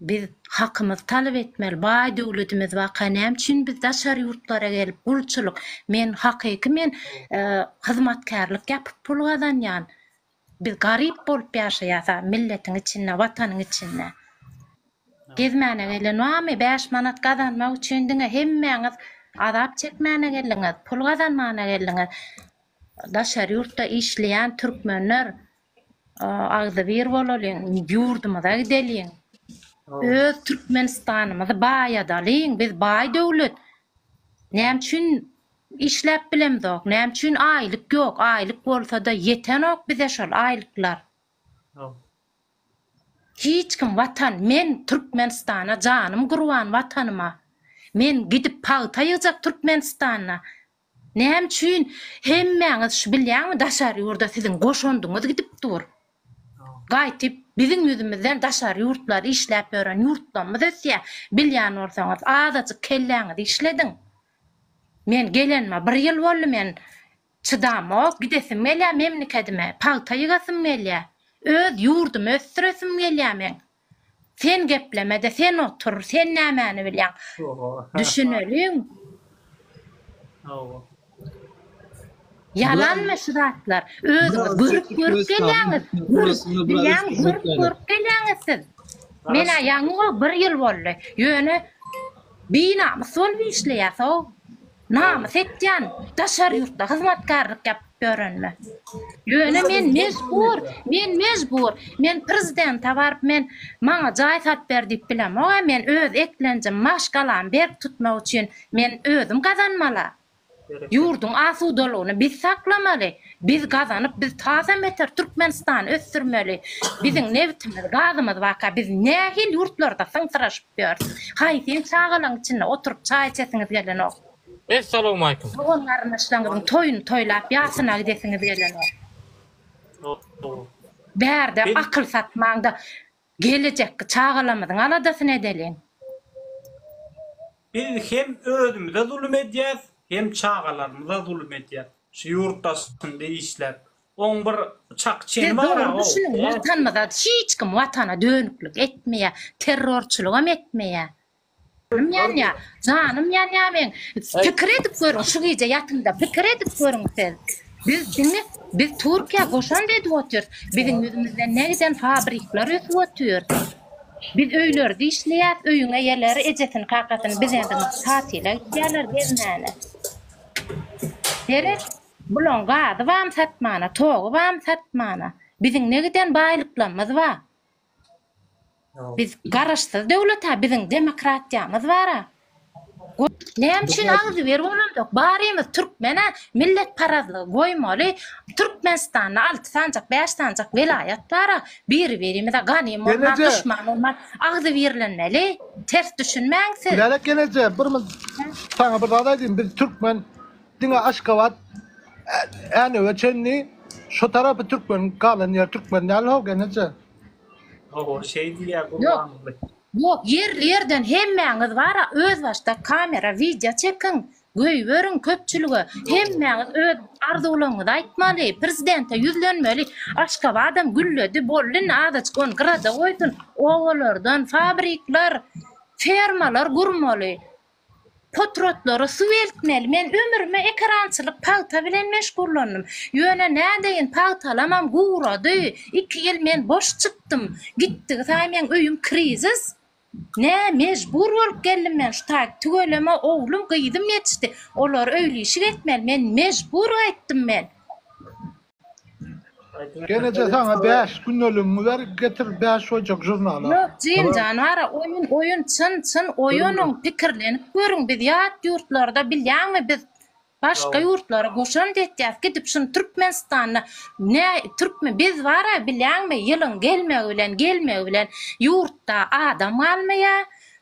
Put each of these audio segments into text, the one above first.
Biz hakymyzy talap etmeli, baý döwletimiz barka näme üçin biz daşary ýurtlara gelip gulçulyk, men hakyky men hyzmatkärlik ýapyp pul gazanýan, biz garyp bolup ýaşaýas a milletiň içinde, watanyň içinde. Gezmäne gelen barmy, bäş manat gazanmak üçin diňe hemmäňiz azap çekmäne geldiňiz, pul gazanmana geldiňiz. Daşary ýurtda işleýän türkmenler agzybir bolalyň, ýurdumyza gideliň. Öz Türkmenistanymyzy baýadalyň, biz baý döwlet. Näme üçin işläp bilemzok, näme üçin aýlyk ýok, aýlyk bolsa-da ýetenok bize şol aýlyklar. Hiç kim watan, men Türkmenistana janym gurban watanyma. Men gidip pagta ýygjak Türkmenistanda. Näme üçin hemmäňiz şu bilýäňmi daşary ýurda siziň goşandyňyz gidip dur. Gaýtyp biziň ýüzümizden daşary ýurtlar işläp ýören ýurtlamyz ösýä bilýän bolsaňyz azajyk kelläňizi işlediň. Men gelenime bir ýyl boldy men çydamok gidesim gelýä memlekedime pagta ýygasym gelýä öz ýurdumy ösdüresim gelýä meň. Sen geplemede sen otur sen nämäni bilýäň düşüneliň. Ýalanmy şu zatlar özüňiz görüp görüp gelýäňiz bilýäň görüp görüp gelýäňiz siz menä ýaňy bir ýyl boldy ýöne binamys bolup işleýäsow Namys etýän, daşary ýurtda hyzmatkärlik ýapyp ýörenime. Ýöne men mejbur, men mejbur, men prezidente baryp men maňa jaý sat ber diýip bilemog-a, men öz eklenjim, maşgalamy berk tutmak üçin men özüm gazanmal-a. Ýurduň asudalygyny biz saklamaly, Biz gazanyp biz taze meter Türkmenistany ösdürmeli biziň nebtimiz gazymyz barka biz nähil ýurtlarda syňsyraşyp ýörüs haýsyn çagalaň içinde oturyp çaý içesiňiz gelenok. Essalamualeykum. Dogan garyndaşlaňyzyň toýuny toýlap ýasyna gidesiňiz gelenok. Bärde akyl satmaňda. Gelejekki çagalarymyzyň aladasyny edeliň. Biz hem özümize zulum edýäs, hem çagalarymyza zulum edýäs. Şu ýurtdaşyn diýip işläp. Oň bir çak çeni bar a ow. Siz dogry düşüniň watanymyza hiç kim watana dönüklik etmeýä terrorçylygam etmeýä. Göwnüm ýanýa, janym ýanýa meň. Pikir edip görüň şu gije ýatyňda pikir edip görüň siz. Biz diňe biz Türkiýä goşant edip otyrys. Biziň ýüzümizden ne giden fabrikler ösüp otyr. Biz öýlerde işleýäs, öýüň eýeleri ejesini kakasyny bizeden tatile gitýärler gezmäne. Seret bulaň gazy bam satmana, togy bam satmana. Biziň ne giden baýlyklarymyz bar. Biz garaşsyz döwleta biziň demokratiýamyz bara. Näme üçin agzybir bolandyk barymyz türkmena millet parazlygy goýmaly türkmenistanda alty sanjak bäş sanjak welaýat bara biri birimize ganym bolman duşman bolman agzybirlenmeli ters düşünmäň siz. Lälek geneje bir saňa bir zat aýdym biz türkmen Diňe Aşgabat Änewe çenli şu tarapy türkmen galan ýer türkmen däl how geneje. Oho şeý diýýä gurbanguly. Ýok ýerli ýerden hemmäňiz bara öz başdak kamera wideo çekiň göýberiň köpçülige hemmäňiz öz arzuwlaňyzy aýtmaly prezidente ýüzlenmeli Aşgabadam gülledi boldy indi azajyk ony gyrada goýsun obalardan fabrikler fermalar gurmaly Potratlara suw eltmeli. Men ömrüme ekerançylyk pagta bilen meşgullandym. Ýöne nädeýin pagtalamam gurady. Iki ýyl men boş çykdym. Gitdigi saýy meň öýüm krizis. Nä mejbur bolup geldim men şu taýy. Tüweleme oglum gyzym ýetişdi. Olar öýlişik etmeli. Men mejbur gaýtdym men. Geneje saňa bäş günneligiňi ber getir bäş hoýjak žurnaly. Ýok Jim janara oýun oýun çyn çyn oýunyň pikirlenip görüň biz ýat ýurtlarda bilýäňmi biz başga ýurtlary goşant etýäs gidip şuny türkmenistanda ne türkmen biz bara bilýäňmi ýylyň gelmegi bilen gelmegi bilen ýurtda adam galmaýa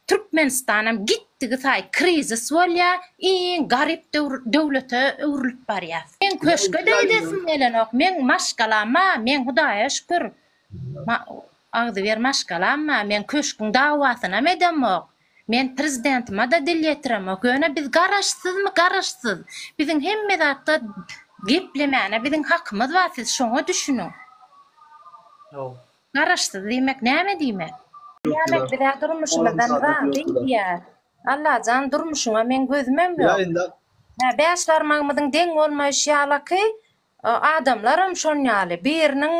Türkmenistanam gitdigi saýy krizis bolýar, iň garyp döwlete öwrülip barýas. Meň köşke-de gidesim gelenok, meň maşgalam bar, meň Hudaýa şükür, agzybir maşgalam bar, men köşgüň dawasynam edemok, men prezidentima-da dil ýetiremok, ýöne biz garaşsyzmy garaşsyz, biziň hemme zatda geplemäne biziň hakymyz bar, siz şoňa düşüniň. Garaşsyz diýmek näme diýmek? Diýmek bizä durmuşymyzdan razy diýýä. Allajan durmuşyňa meň gözümem ýok. Hä bäş barmagymyzyň deň bolmaýşy ýalaky adamlaram şon ýaly biriniň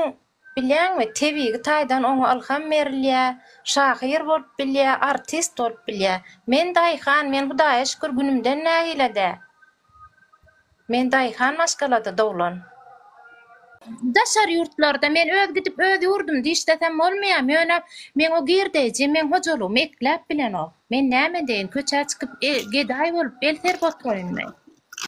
bilýäňmi tebigy taýdan oňa ylham berilýä şahyr bolup bilýä artist bolup bilýä. Men daýhan men hudaýa şükür günümden nägile dä. Men daýhan maşgalada doglan. Daşary ýurtlarda men öz gidip öz ýurdumda işlesem bolmaýam, ýöne meň o girdeýjim, meň hojalygymy ekläp bilenok. Men näme edeýin, köçä çykyp, gedaý bolup el serip oturaýynmy?